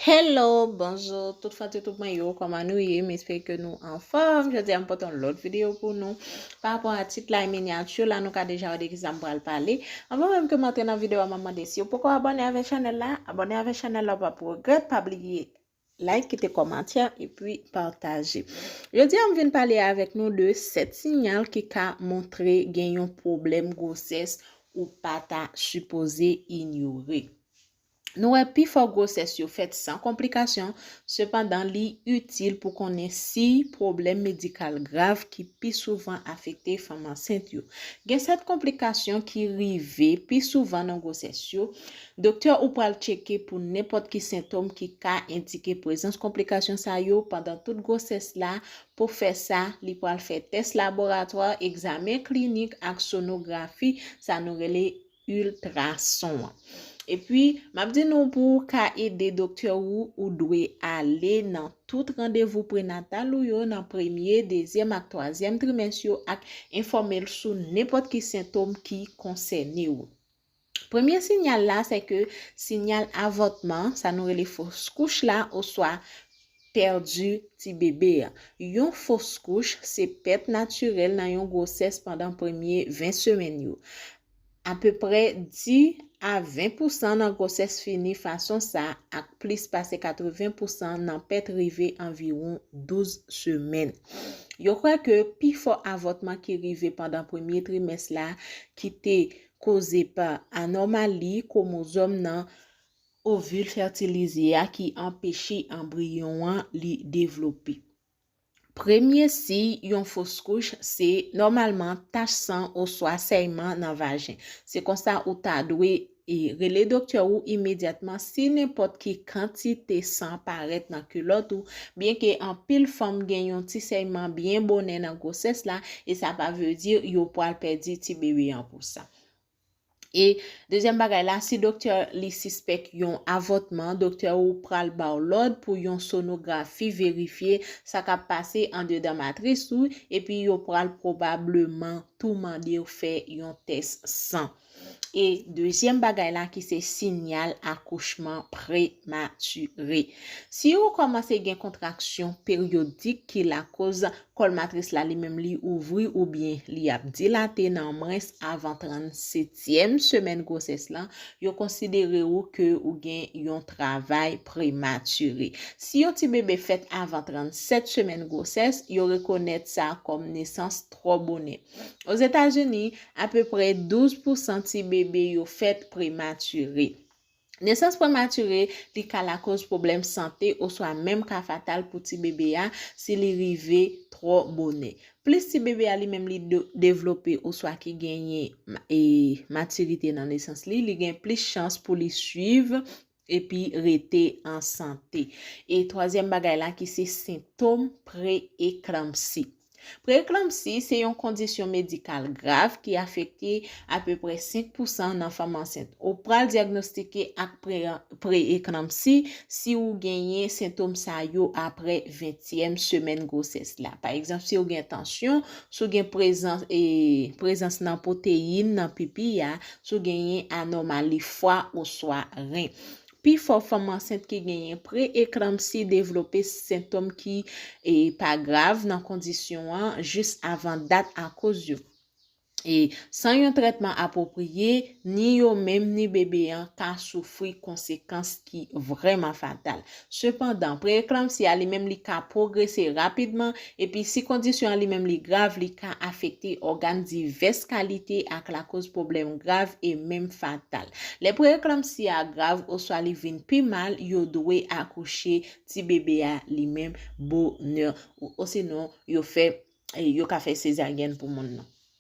Hello, bonjour tout fan YouTube mwen yo, koman nou ye? M espere ke nou anfòm. Jodi a m pote yon lòt video pou nou. Pa rapò a tit la e miniature la, nou ka deja wè de ki sa m pral pale. Anvan menm ke m antre nan video a, m ap mande si ou poko abone avè chanèl la, abone avè chanèl la ou pap regrèt, pa bliye like, kite kòmantè epi pataje. Jodi a m vin pale avèk nou de 7 sinyal ki ka montre gen yon pwoblèm gwosès ou pa ta sipoze inyore. Nou wè pifò gwosès yo fèt san konplikasyon, sepandan li itil pou konnen siy pwoblèm medikal grav ki pi souvan afekte fanm ansent yo. Gen sèt konplikasyon ki rive pi souvan nan gwosès yo, doktè ou pral tcheke pou nenpòt ki sentom ki ka endike prezans konplikasyon sa yo pandan tout gwosès la, pou fè sa, li pral fè tès laboratwa, egzamen klinik ak sonografi, sa nou rele Ultrason an. Epi, m ap di nou pou ou ka ede doktè ou, ou dwe ale nan tout randevou prenatal ou yo nan premye, dezyèm ak twazyèm trimès yo ak enfòme l sou nenpòt ki sentom ki konsène ou. Premye sinyal la se ke sinyal avòtman, sa nou rele fos kouch la oswa pèdi ti bebe a. Yon fos kouch se pèt natirèl nan yon gwosès pandan premye 20 semèn yo. Apeprè 10 a 20 pousan nan gwosès fini fason sa ak plis pase 80 pousan nan pèt rive anviwon 12 semèn. Yo kwè ke pi fò avòtman ki rive pandan premye trimès la ki te koze pa anòmali kwomozòm nan ovil fètilize a ki anpeche anbriyon an li devlope. Premye siy yon foskouch se nòmalman tach san oswa sèyman nan vajen. Se konsa ou ta dwe e rele doktè ou imedyatman si nenpòt ki kantite san parèt nan kilòt ou. Byenke anpil fanm gen yon ti sèyman byen bonè nan gwosès la, e sa pa vle di yo pral pèdi tibebe an pou sa. E dezyèm bagay la, si doktè li sispèk yon avòtman, doktè ou pral ba w lòd pou yon sonografi verifye sa k ap pase andedan matris ou epi yo pral pwobableman tou mande w fè yon tès san. E dezyèm bagay la ki se sinyal akouchman prematire. Si ou kòmanse gen kontraksyon peryodik ki lakoz Kòl matris la li menm li ouvri oubyen li ap dilate nan mwens avan 37 tyèm semèn gwosès lan, yo konsidere ou ke ou gen yon travay prematire. Si yon ti bebe fèt avan 37 semèn gwosès, yo rekonèt sa kòm nesans twò bonè. Ozetazini, apeprè 12 pousan ti bebe yo fèt prematire. Nesans prematire li ka lakoz pwoblèm sante oswa menm ka fatal pou ti bebe a si li rive twò bonè. Plis ti bebe a li menm li devlope oswa ki genyen matirite nan nesans li, li gen plis chans pou li swiv epi rete an sante. E twazyèm bagay la ki se sentom pre-eklanpsi. Preeklanpsi se yon kondisyon medikal grav ki afekte apeprè 5 pousan nan fanm ansent. Ou pral dyagnostike ak preeklanpsi si ou genyen sentom sa yo aprè ventyèm semèn gwosès la. Pa egzanp, si ou gen tansyon, si ou gen prezans nan pwoteyin nan pipi a, si ou genyen anòmali fwa oswa ren. Pifò fanm ansent ki genyen pre-eklanpsi devlope sentom ki pa grav nan kondisyon an jis avan dat akoz yo e san yon trètman apwopriye, ni yo menm ni bebe an ka soufri konsekans ki vrèman fatal. Sepandan, pre-eklanpsi a li menm li ka pwogrese rapidman Epi si kondisyon an li menm li grav li ka afekte ògàn divès kalite ak lakoz pwoblèm grav e menm fatal. Lè preeklanpsi a grav oswa li vin pi mal yo dwe akouche ti bebe a li menm bonè osinon yo fè yo ka fè sezaryèn pou moun nan.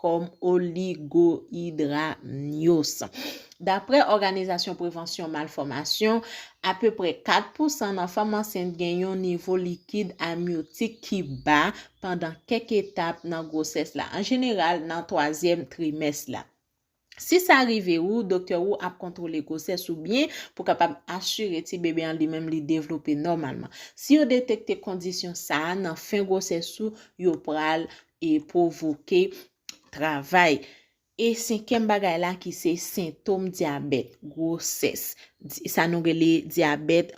kòm oligohidra mnyos. Daprè Òganizasyon Prevansyon Malfòmasyon, apeprè 4 pousan nan fanm ansent gen yon nivo likid amyotik ki ba pandan kèk etap nan gwosès la, an jeneral nan twazyèm trimès la. Si sa rive ou, doktè ou ap kontwole gwosès ou byen pou kapab asire ti bebe an li menm li devlope nòmalman. Si yo detekte kondisyon sa a nan fen gwosès ou, yo pral e pwovoke travay e senkyèm bagay la ki se sentom dyabèt gwosès sa nou rele dyabèt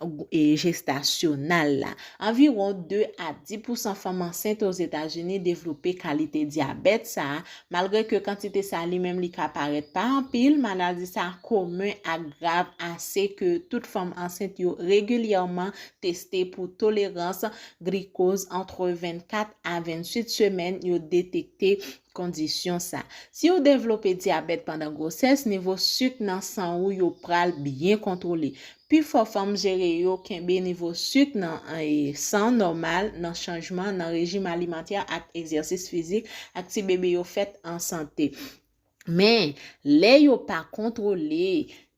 jestasyonal la anviwon 2 a 10 pousan fanm ansent ozetazini devlope kalite dyabèt sa malgre ke kantite sa li menm li ka parèt pa anpil maladi sa komen ak grav ase ke tout fanm ansent yo regilyèman teste pou tolerans grikoz antre 24 a 28 semèn yo detekte kondisyon sa. Si ou devlope dyabèt pandan gwosès, nivo suk nan san ou yo pral byen kontwole. Pi fò fanm jere yo kenbe nivo suk nan san nòmal nan chanjman nan rejim alimantè ak egzèsis fizik ak ti bebe yo fèt an sante. Men, lè yo pa kontwole,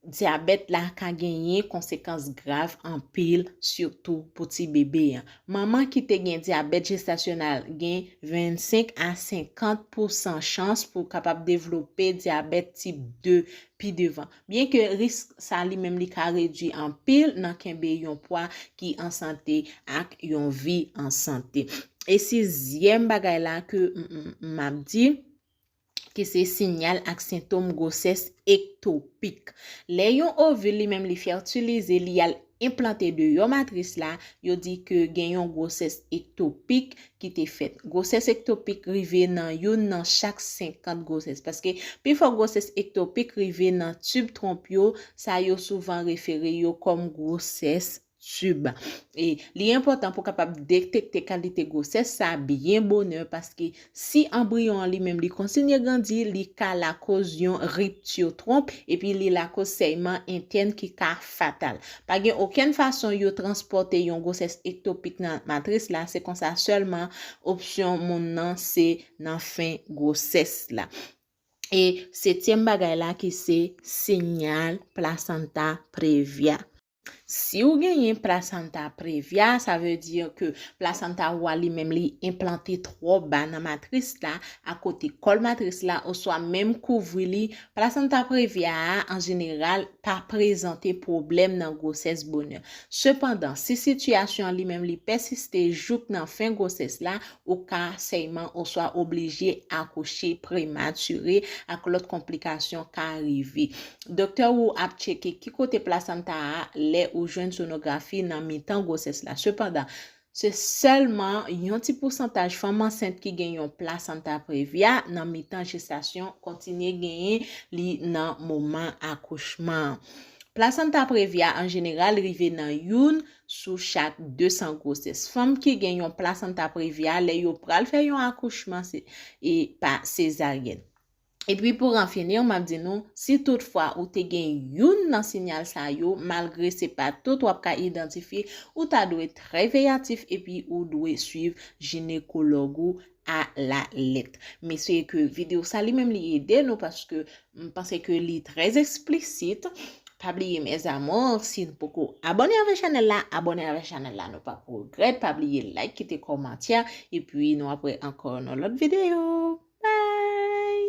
dyabèt la ka genyen konsekans grav anpil, sitou pou ti bebe a. Manman ki te gen dyabèt jestasyonal gen 25 a 50 pousan chans pou kapab devlope dyabèt tip 2 pi devan. Byenke risk sa li menm li ka redwi anpil nan kenbe yon pwa ki an sante ak yon vi an sante. E sizyèm bagay la ke m ap di, ki se sinyal ak sentom gwosès ektopik. Lè yon ovil li menm li fètilize, li al enplante deyò matris la, yo di ke gen yon gwosès ektopik ki te fèt. Gwosès ektopik rive nan youn nan chak 50 gwosès. Paske pi fò gwosès ektopik rive nan tib twonp yo, sa yo souvan refere yo kòm gwosès tube. E li enpòtan pou kapab detekte kalite gwosès sa byen bonè paske si anbriyon an li menm li kontinye grandi li ka lakoz yon ripti twonp epi li lakoz sèyman entèn ki ka fatal. Pa gen okenn fason yo transpòte yon gwosès ektopik nan matris la se konsa sèlman opsyon moun nan se nan fen gwosès la. E setyèm bagay la ki se sinyal plasanta previa. Si ou genyen placenta previa, sa veut dire ke placenta ou a li menm li enplante twò ba nan matris la, a kote kòl matris la oswa menm kouvri li, placenta previa a an jeneral pa prezante pwoblèm nan gwosès bonè. Sepandan, si sitiyasyon an li menm li pèsiste jouk nan fen gwosès la, Ou ka sèyman oswa oblije akouche prematire ak lòt konplikasyon ka rive. Doktè ou ap tcheke ki kote plasanta a lè ou jwenn sonografi nan mitan gwosès la. Sepandan, se sèlman yon ti pousantaj fanm ansent ki gen yon plasanta previa nan mitan jestasyon kontinye genyen li nan moman akouchman an. Plasanta previa an jeneral rive nan youn sou chak 200 gwosès. Fanm ki gen yon plasanta previa, lè yo pral fè yon akouchman se e pa sezaryèn. E pi pou ranfinir, m ap di nou, si tout fwa ou te gen youn nan sinyal sa yo, malgre se pa tout w ap ka idantifye, ou ta dwe trè veyatif epi ou dwe swiv jinekològ ou a la lèt. Men se ke video sa li menm li ede nou paske m panse ke li trè esplisit. Pa bliye mes amours si n poko abone avè chanèl la, abone avè chanèl la nou pap regrèt. Pa bliye like, kite kòmantè epi nou ap wè ankò nan lòt video. Bye!